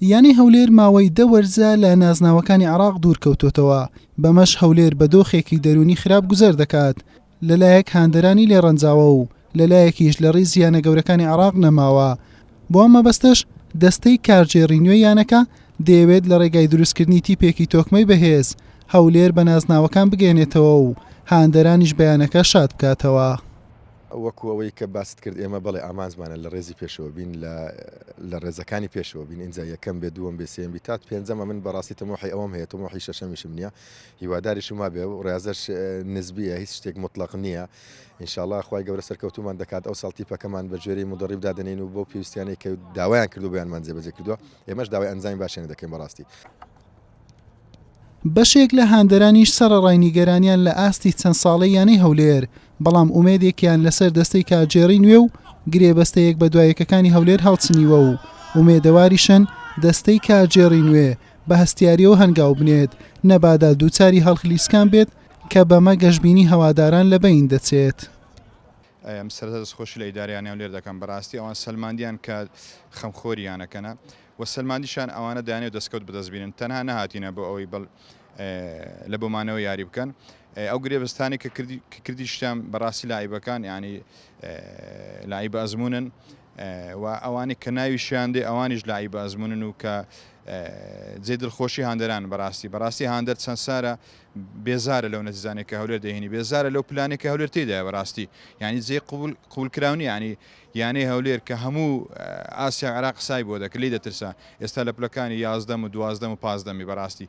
یانەی هەولێر ماوەی دە وەرزە لە نازناوەکانی عراق دوورکەوتوتەوە بەمەش هەولێر بە دۆخێکی دەرونی خراپ گوزەر دەکات لەلایەک هاندەرانی لێ ڕەنجاوە و لەلایەکیش لە ڕیز یانە گەورەکانی عراق نەماوە بۆ ئەم مەبەستەش دەستەی کارگێڕی نوێی یانەکە دەیەوێت لە ڕێگای دروستکردنی تیپێکی تۆکمەی بەهێز هەولێر بە نازناوەکان بگەێنێتەوە و هاندەرانیش بەیانەکە شاد بکاتەوە. وەکو ئەوەی کە باست کرد ئێمە بەڵێ ئامانجمانە لە ڕێزی پێشەوە بین لە لە ڕێزەکانی پێشەوە بین ئینجا یەکەم بێ دووەم بێ سێم بی تات پێنجەمە من بەڕاستی تەمۆحی ئەوەم هەیە تەمۆحی شەشەمیشم نییە هیواداریشم وابێ و ڕێازەش نزبیە هیچ شتێک مطلق نییە ئینشاءاللە خوای گەورە سەرکەوتومان دەکات ئەو ساڵ تیپەکەمان بە جۆری مدەڕیب دادەنین و بۆ پێویستیانەی کە داوایان کردو بیانمان جێبەجێ کردووە ئێمەش داوای ئەنجامی باشیان دەکەین بەڕاستی بەشێک لە هاندەرانیش سەرەڕای نیگەرانیان لە ئاستی چەند ساڵەی یانەی هەولێر، بەڵام ئومێدێکیان لەسەر دەستەی کارگێڕیی نوێ و گرێبەستە یەکبەدوایەکەکانی هەولێر هەڵچنیوە و ئومێدەواریشن دەستەی کارگێڕیی نوێ بە هەستیارییەوە هەنگاو بنێت، نەبادا دووچاری هەڵخلیسکان بێت کە بەمە گەشبینی هەواداران لە بەین دەچێت. ئەم سەرەتا دەستخۆشی لە ئیدارەی یانەی هەولێر دەکەم، بەڕاستی ئەوان سەلماندیان کە خەمخۆری یانەکەنە، و سەلماندیشان ئەوانە دانێ و دەستکەوت بەدەست بینن تەنها نەهاتینە بۆ ئەوەی بەڵ لە بۆمانەوە یاری بکەن ئەو گرێبستانی کە کردیشتان بەڕاستی لایبەکان ینی لای بە ئەزمونن و ئەوانی کە ناویشیان دێ ئەوانیش لای بە ئەزمونن و کە جێ دڵخۆشی هاندەران بەڕاستی بەڕاستی هاندەر چەند سارە بێزارە لەو نەزیزانێک کە هەولێر دەهێنی بێزارە لەو پلانێک کە هەولێر تێدایە بەڕاستی ینی جێ قوول قوولکراونی ینی یانەی هەولێر کە هەموو ئاسیا و عێراق قسای بۆ دەکرد لێی دەترسا ئێستا لە پلەکانی یازدەم و دوازدەم و پازدەمی بەراستی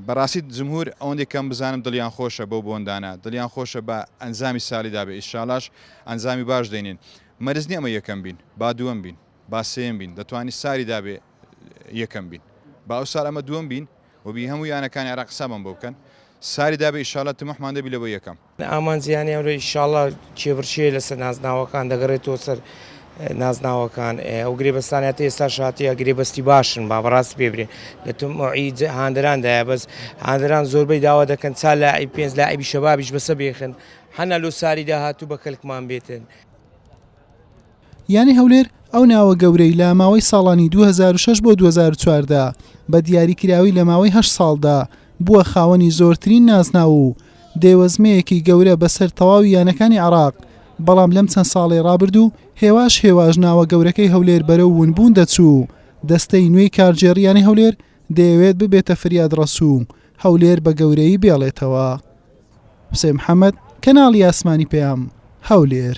بەراستی جمهور ئەوەندی کەم بزانم دڵیان خۆشە بەو بۆندانە دڵیان خۆشە بە ئەنجامی سالی دابێ ئیشالاش ئەنجامی باش دێنین مەرز نیە ئەمە یەکەم بین با دووەم بین با سێم بین دەتوانی ساری دابێ یەکەم بین با ئەو سال ئەمە دووەم بین وبی هەموو یانەکانی عێراق سابم بۆ بکەن ساری دابێ ئیشالا تمەحمان دەبی لە بۆ یەکەم ئامانجیانی ئەمرۆ ئیشاڵا کێبڕکێ لەسەر نازناوەکان دەگەڕێتەوە سەر نازناوەکان ئەو گرێبەستانە تا ئێستا شاتیە گرێبەستی باشن با بەڕاستی پێبرێن لە تمعی هاندەراندایە بەس هاندەران زۆربەی داوا دەکەن چا لە ئەی پێنج لە ئەبی شەبابیش بەسە بێخن حەنا لۆ ساری داهاتوو بە کەلکمان بێتن. یانەی هەولێر ئەو ناوە گەورەی لە ماوەی ساڵانی دوو هەزار و شەش بۆ دوو هەزار و چواردە بە دیاری کراوی لە ماوەی هەشت ساڵدا بووە خاوەنی زۆرترین نازناو و دێوەزمەیەکی گەورە بەسەر تەواوی یانەکانی عێراق بەڵام لەم چەند ساڵەی ڕابردوو هێواش هێواش ناوە گەورەکەی هەولێر بەرەو ونبوون دەچوو و دەستەی نوێی کارگێڕی یانەی هەولێر دەیەوێت ببێتە فریادڕەس و هەولێر بە گەورەیی بێڵێتەوە. حوسێن محەمەد، کەناڵی ئاسمانی پەیام، هەولێر.